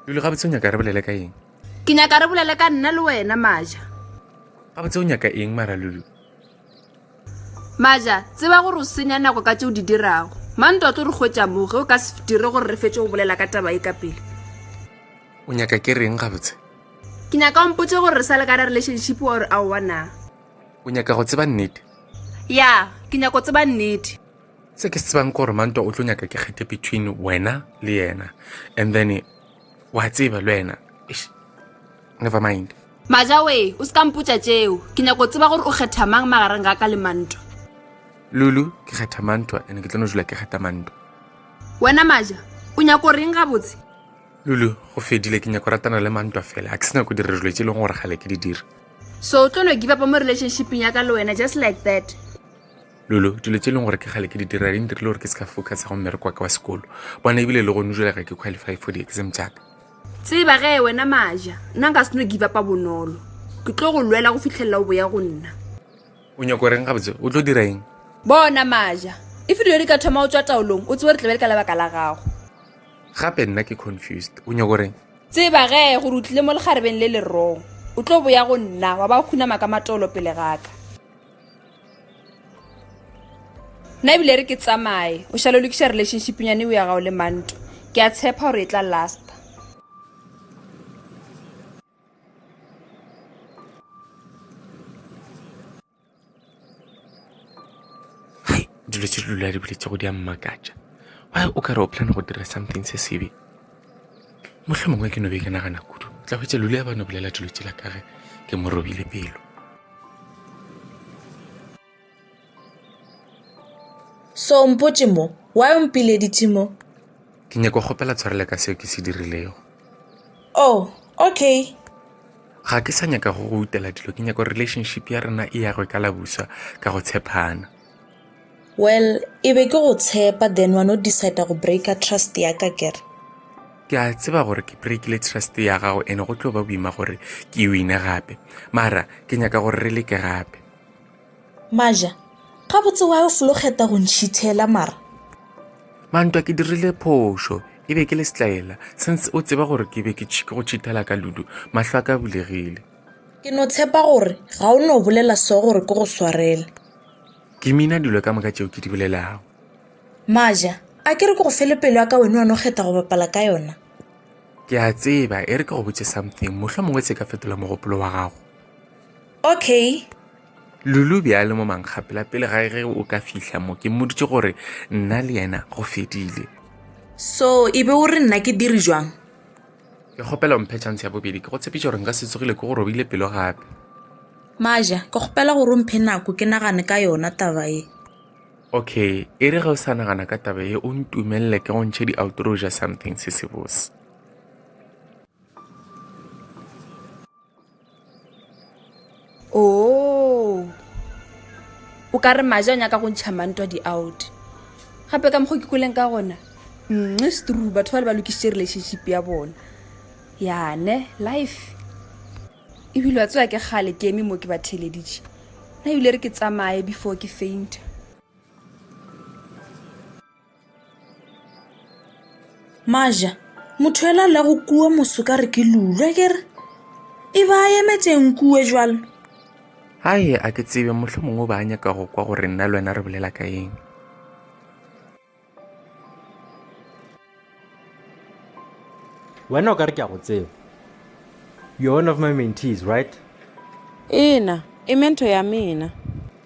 dule ga botse o nyaka re bolele ka eng ke nyaka re bolele ka nna le wena maja ga botse o nyaka eng mara lulu maja tseba gore o senya nako ka tse o di dirago mantwa tlo re kgwetsa mo ge o ka se dire gore re fetse go bolela ka taba e ka pele o nyaka ke reng ga botse ke nyaka ompotse gore re sa le ka ra relationship wa gore a owa na o nyaka go tseba nnete ya ke nyaka go tseba nnete se ke se tsebang gore mantwa o tlo nyaka ke kgethe between wena le yena and then wa tseba le wena never mind majawe o se ka mpotsa tšeo ke nyako tseba gore o kgetha mang magareng ga ka le mantwa lulu ke kgetha mantwa and ke tlo no jula ke kgetha mantwa wena maja o nyako reng gabotse lulu go fedile ke nyako ratana le mantwa fela a ke se nyako dira dilo tse e leng gore gale ke di dira so o tlo no give up mo relationshipeng ya ka le wena just like that lolo dilo tse e leng gore ke gale ke di dira di ntirile gore ke se ka focus go mmereko wa ka wa sekolo bona ebile e le gone jela ga ke qualify for di-exam jaaka tseba ge wena maja nna nka se no give upa bonolo ke tlo go lwela go fitlhelela o boya go nna o nyako reng gabotse o tlo dira eng bona maja e filo yo di ka thoma o tswa taolong o tsewe re tlebe le ka lebaka la gago gape nna ke confused o nyako reng Tseba ge gore o tlile mo lekgarebeng le le rong, o tlo boya go nna wa ba khunama ka matolo pele ga ka. Nna ebile re ke tsamaye, o šale o lokiša relationshipnyane o ya gago le manto. Ke a tshepa gore e tla lasta. hai dilo tse dilo di boletse go di a mmakatša why o ka re o plan go dira something se sebe motlho mongwe ke no be ke nagana kudu o tla hwetsa lule ya bano bolela dilo tsela ka ge ke mo robile pelo so mpotse mo why o mpileditse mo Ke nyaka go kgopela tshwarelo ka seo ke se dirilego. Oh, okay. Ga ke sa nyaka go go utela dilo, ke nyaka relationship ya rena e yagwe ka labuswa ka go tshepana. Well, e be ke go tshepa then wa no decide go breaka trust ya ka kere. Ke a tseba gore ke breakile trust ya gago ene go tlo ba boima gore ke wine gape. Mara ke nyaka gore re leke gape. Maja, gabotse wa yo folo kgeta go ntšhithela mara? Mantwa ke dirile phošo, e be ke le setlaela, since o tseba gore ke be ke go tšhithela ka ludu, mahlo a ka bulegile. Ke no tshepa gore ga o no bolela so gore ke go swarele. Ke mina dilo ka moka tšeo ke di bolelago. Maja, a ke re ke go fele pelo ya ka wena wa no kgeta go bapala ka yona? Ke a tseba, e re ke go botse something, mohlomongwe se ka fetola mogopolo wa gago. Okay. Lulu be a le mo mankgapela pele ga ge o ka fihla mo ke mmoditše gore nna le yena go fedile So, e be o re nna ke diri jwang? ke kgopela mphe chance ya bobedi ke go tshepiša gore nka se tsogile ke go robile pelo gape Maja, ke kgopela gore o mphe nako ke nagane ka yona taba e. okay e re ge o sa nagana ka taba ye o ntumelele ke go ntšhe di-outro ja something se sebose oo o ka re maje a nyaka go ntšha mantwa di-out gape ka mokgwa ke kweleng ka gona nxe strue batho ba le ba lokišitše relationship ya bona yane life ebile wa tsewa ke kgale ke eme mo ke ba theleditše na ebile re ke tsamaye before ke fainta maja motho ela la go kua moso ka re ke lulwe ke re e ba a emetšeng kue jalo gae a ke tsebe motlho mongwe ba a nyaka go kwa gore nna le wena re bolela ka eng wena o ka re ke a go tseba you're one of my mentees right ena e mento ya mena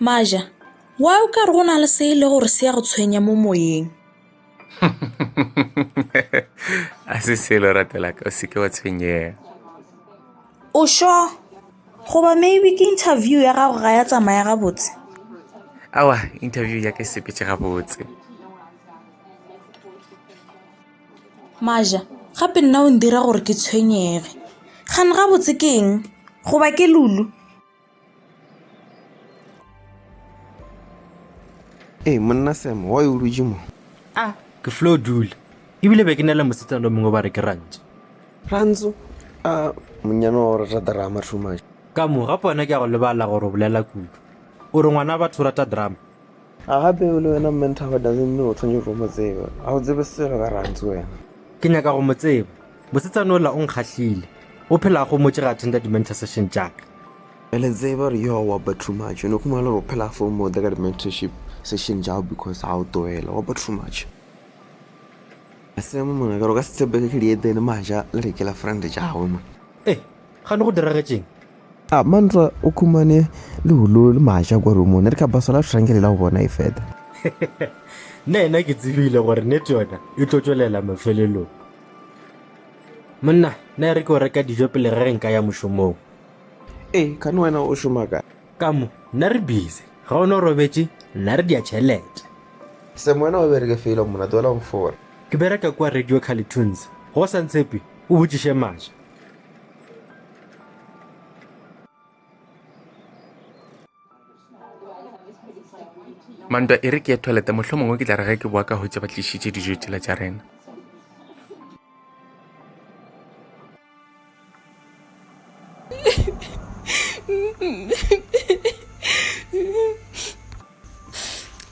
Maja, why o ka re go na le se e le gore se ya go tshwenya mo moyeng? a se selo ratelaka o seke wa tshwenyega o sho goba maybe ke interview ya gago ga ya tsamaya gabotse awa interview ya ka e sepetse gabotse Maja, gape nna o ndira gore ke tshwenyege. Kgane gabotse ke eng? Goba ke Lulu? Ee, monna Sam, wa o dutše mo. Ah, ke flo dula. Ebile be ke na le mosetsana o mongwe ba re ke rantso. Rantso? Ah, monyana wa o rata drama too much. Ka mo, gape wena ke ya go lebala gore o bolela kudu. O re ngwana batho o rata drama. A gape o le wena Mme Nthaba doesn't mean o tshwanetse go mo tseba. Ga o tsebe selo ka Rantsi wena. Ke nyaka go mo tseba. Mosetsana ola o nkgahlile. O phela a gomotše ge a attenda di-mentor session tša ka. Re le tseba gore yo wa ba too much. O no khumana le gore o phela a fomote ka di-mentorship session tša gago because ga o toela. Wa ba too much. Semo mona ka gore o ka se tshepege ke dietene maja le re ke la friend tša gagwe mona. Eh! Gane go diragetšeng? A Mantra o khumane le hulo le maja kwa rumong. Ne re ka basala shrankele la go bona e feta. Nena ke tsebile gore nete yona e tlo tšwelela mafelelong. Monna, ne re ke o reka dijo pele re re nka ya mošomong. E, kane wena o šoma ka? Ka mo, nna re busy. Ga o ne o robetše, nna re dia tšhelete. Sam, wena o bereke felo mona, tlohela go fora. Ke bereka kua Radio Carlitoons. Go sa ntshepe, o botšiše maja. mantwa e re ke ye toilete mohlho mongwe ke tla re ge ke boa ka hwetše ba tlišitše dijo tšela tša rena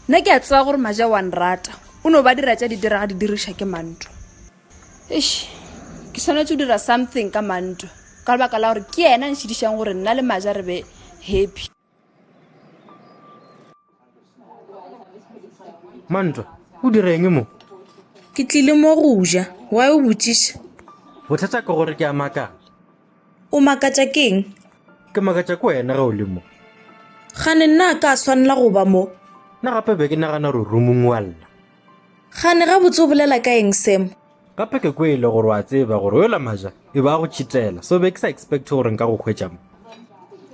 nna ke a tseba gore maja wa nrata o no ba dira tša di diraga di diriša ke mantwa eish ke tshwanetse go dira something ka manto ka lebaka la gore ke ena nshedišang gore nna le maja re be happy mantwa o direng mo ke tlile mo go ja wa o botšiša bothata ke gore ke a makala o makatša keng ke makatša ko wena ge o le mo gane nna a ka swanela go ba mo nna gape be ke nagana gore rumong wa lla Gane gabotse o bolela ka eng Sam? Gape ke kwele gore wa tseba gore o yola maja e ba go tšhitela, so be ke sa expect gore nka go hwetša mo.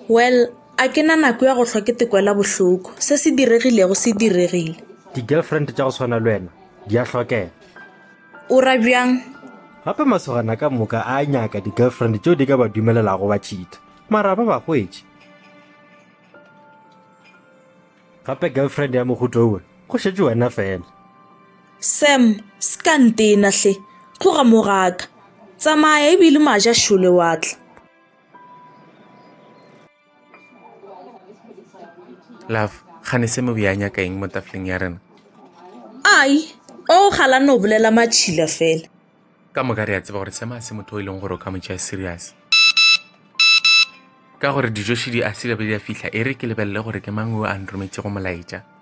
Well, a ke na nako ya go hlwa ke te kwela bohloko. Se se diregilego se diregile. Di-girlfriend tša go swana le wena di a hlokega. O ra bjang? Gape masogana ka moka a nyaka di-girlfriend tšeo di ka ba dumelelago ba tšhitha. Mara ba ba hwetše. Gape girlfriend ya mohuto owe, go šetše wena fela. Sam, se ka ntena hle. Tloga mo ga ka. Tsamaya ebile maja šole wa tla. Love, gane se mobe ya nyaka eng mo tafleng ya rena? Ai, o gala no bolela matšhila fela. ka moka re a tseba gore sema se motho o e leng gore o ka motšea serious ka gore dijoši di a sile be di a fihla e re ke lebelele gore ke mang o a nrometšego molaetša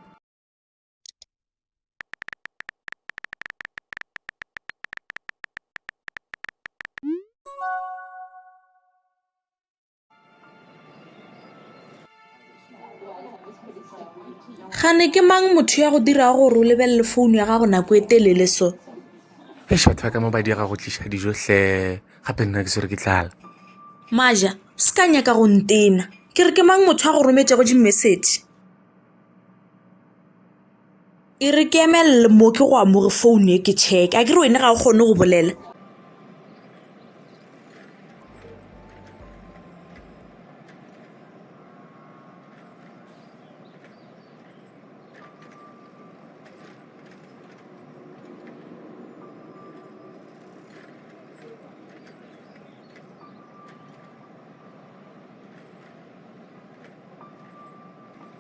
gane ke mang motho ya go dirago gore o lebelele founu ya gago nako e telele so e šatha ka mo ba diega go tliša dijo hle gape nna ke swere ke tlala maja o se ka nyaka go ntena ke re ke mang motho ya go rometšego dimessage E re ke eme l mo ke go amoge phone e ke check a ke re wena ga o kgone go bolela